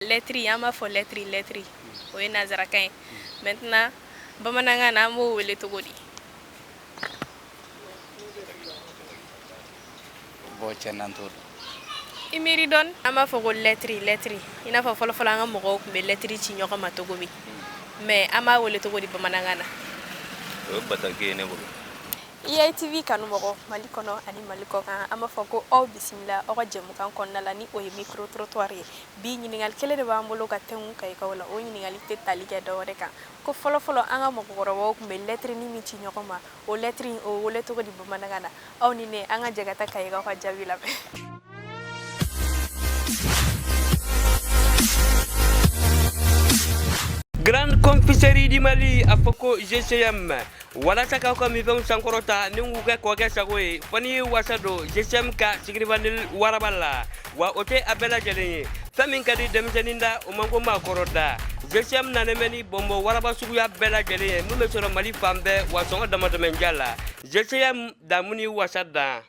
lɛtri an b'a fɔ lɛtri lɛtri o ye nansarakan ye maintenant bamanankan na an b'o wele cogo di i miiri dɔɔni an b'a fɔ ko lɛtri lɛtri i n'a fɔ fɔlɔfɔlɔ an ka mɔgɔw tun bɛ lɛtri ci ɲɔgɔn ma cogo min mais an b'a wele cogo di bamanankan na EITV kanumɔgɔ Mali kɔnɔ ani Mali kɔkan an b'a fɔ ko aw bisimila aw ka jɛmukan kɔnɔna la ni o ye micro trottoir ye bi ɲininkali kelen de b'an bolo ka tɛngu kayikaw la o ɲininkali tɛ tali kɛ dɔwɛrɛ kan ko fɔlɔfɔlɔ an ka mɔgɔkɔrɔbaw tun bɛ lɛtiri nin min ci ɲɔgɔn ma o lɛtiri in o bɛ wele cogo di bamanankan na aw ni ne an ka jɛ ka taa kayikaw ka jaabi lamɛn Grande Confiserie du Mali, a fɔ ko GCM. walasa k'aw ka minfɛnw sankɔrɔta ni k'u kɛ kɔkɛ sago ye fɔ ni wasa don gcm ka sucre vanillé waraba la wa o tɛ a bɛɛ lajɛlen ye fɛn min ka di denmisɛnnin da o man go maakɔrɔ da gcm nanen bɛ ni bɔnbɔn waraba suguya bɛɛ lajɛlen ye min bɛ sɔrɔ mali fan bɛɛ wa sɔngɔ damatɛmɛnja la gcm daamu ni wasa dan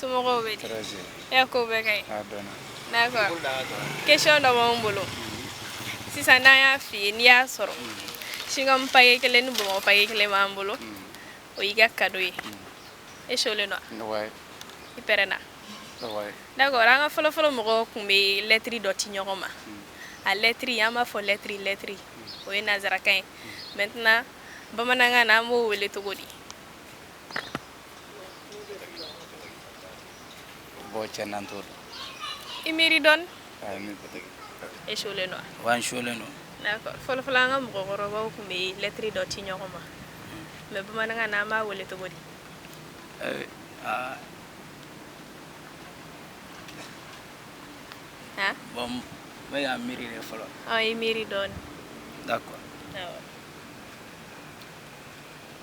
Somɔgɔw bɛ di? Tɔrɔ si tɛ yen. E ka kow bɛɛ ka ɲi? A dɔnna. D'accord question dɔ b'anw bolo sisan n'an y'a f'i ye n'i y'a sɔrɔ chewing-gum paquet kelen ni bonbon paquet kelen b'an bolo o y'i ka cadeau ye e cholen don wa? Wayi. I pɛrɛnna? Wayi. D'accord an ka fɔlɔ-fɔlɔ mɔgɔw tun bɛ lɛtiri dɔ ci ɲɔgɔn ma a lɛtiri an b'a fɔ lɛtiri lɛtiri o ye nansarakan ye maintenant bamanankan na an b'o wele cogo di? Bon cɛ n'an t'o dɔn. I miiri dɔɔni. Aa n bɛ bɔ dɔɔni. E cholen don wa? Oui n cholen don. D'accord fɔlɔ fɔlɔ an ka mɔgɔkɔrɔbaw tun bɛ lettre dɔ ci ɲɔgɔn ma mais bamanankan na an b'a wele cogo di? Ee aa Han? Bon n bɛ ka n miiri de fɔlɔ. Ɔ i miiri dɔɔni. D'accord. Awɔ.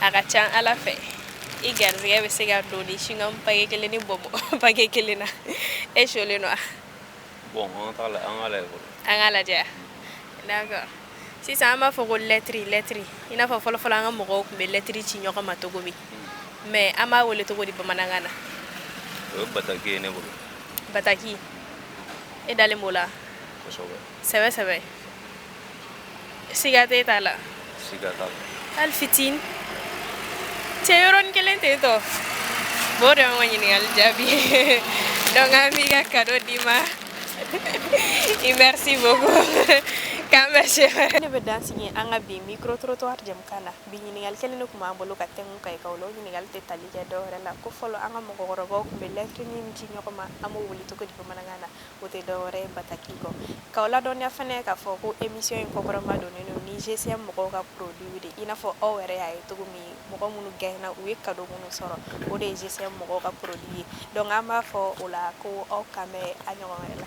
a ka ca ala fɛ i garisɛgɛ bɛ se ka don ni chewing-gum paquet kelen ni bonbon paquet kelen na e cholen don wa an ka lajɛ d'accord sisan an b'a fɔ ko lɛtiri lɛtiri i n'a fɔ fɔlɔfɔlɔ an ka mɔgɔw tun bɛ lɛtiri ci ɲɔgɔn ma cogo min hmm. mais an b'a wele cogo di bamanankan na o ye bataki ye ne bolo bataki e dalen b'o la sɛbɛ sɛbɛ siga t'a la siga t'a la hali fitini cɛ yɔrɔnin kelen ten tɔ b'o de y'an ka ɲininkali jaabi ye donc an b'i ka cadeau d'i ma i merci beaucoup k'an bɛn ne bɛ dan sigi an ka bi micro trottoir jɛmukan na bi ɲininkali kelen de tun b'an bolo ka tɛngu kayikaw la o ɲininkali tɛ tali kɛ dɔwɛrɛ la ko fɔlɔ an ka mɔgɔkɔrɔbaw tun bɛ lɛtiri min ci ɲɔgɔn ma an b'o wele cogo di bamanankan na O tɛ dɔwɛrɛ ye bataki kɔ k'aw ladɔnniya fana k'a fɔ ko emisiyɔn in kɔkɔrɔmadonnen ni GCM mɔgɔw ka produitw de i n'a fɔ aw yɛrɛ y'a ye cogo min mɔgɔ minnu gaɲena u ye kado minnu sɔrɔ o de ye GCM mɔgɔw ka produit ye donc an b'a fɔ o la ko aw k'an bɛn a ɲɔgɔn wɛrɛ la